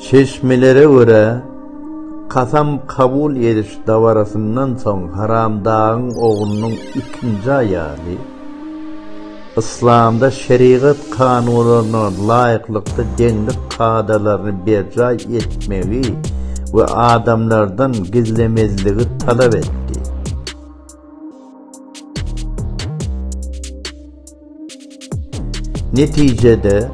Çeşmelere görä, kasam kabul ediş dabarasyndan soň Haramdagyň oglunyň ikinji aýaly, yslamda şerigat kanunlaryna laýyklykda deňlik kadalaryny berjaý etmegi we adamlardan gizlemezligi talap etdi. Netijede,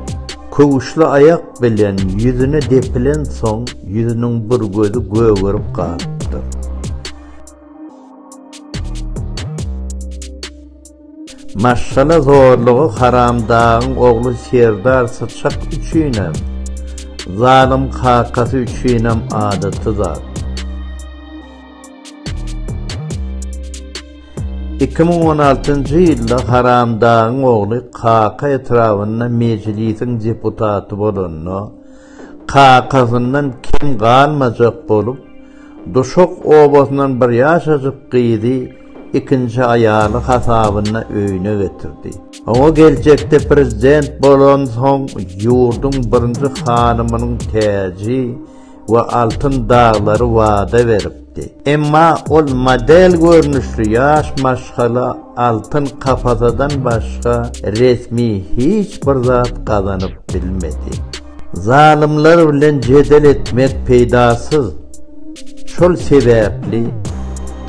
köwüşli aýak bilen ýüzüne depilensoň, ýüzüniň bir gözi gögerip galypdyr. Maşgala zorlugy Haramdagyň ogly Serdar Syçak üçinem, zalym kakasy üçinem adaty zat. Iki müň on altynjy ýylda Haramdagyň ogly Kaka etrabynda mejlisiň deputaty bolanda, kakasyndan kem galmajak bolup, Duşak obasyndan bir ýaşajyk gyzy ikinji aýaly hasabyna öýüne getirdi. Oňa geljekde prezident bolansoň ýurduň birinji hanymynyň täji, we altyn daglary wada beripdi. Emma ol model görnüşli ýaş maşgala altyn kapasadan başga resmi hiç bir zat gazanyp bilmedi. Zalymlar bilen jedel etmek peýdasyz. Şol sebäpli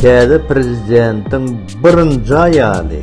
täze prezidentiň birinji aýaly,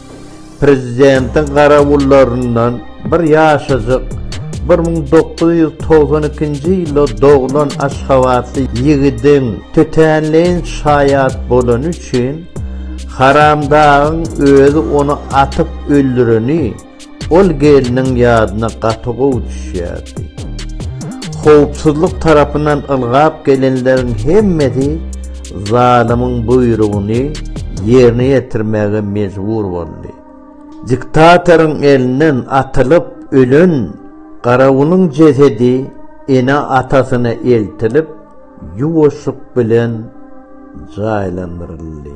Prezidentiň garawullaryndan bir ýaşajyk, bir müň dokuz ýüz togsan ikinji ýylda doglan aşgabatly ýigidiň tötänleýin şaýat bolany üçin, Haramdagyň özi ony atyp öldüreni, Ol gelniň ýadyna gaty gowy düşýärdi. Howpsuzlyk tarapyndan ylgap gelenleriň hemmesi zalymyň buýrugyny ýerine ýetirmäge mejbur boldy. Diktatoryň elinden atylyp ölen garawulyň jesedi ene-atasyna eltilip, ýuwaşlyk bilen jaýlandyryldy.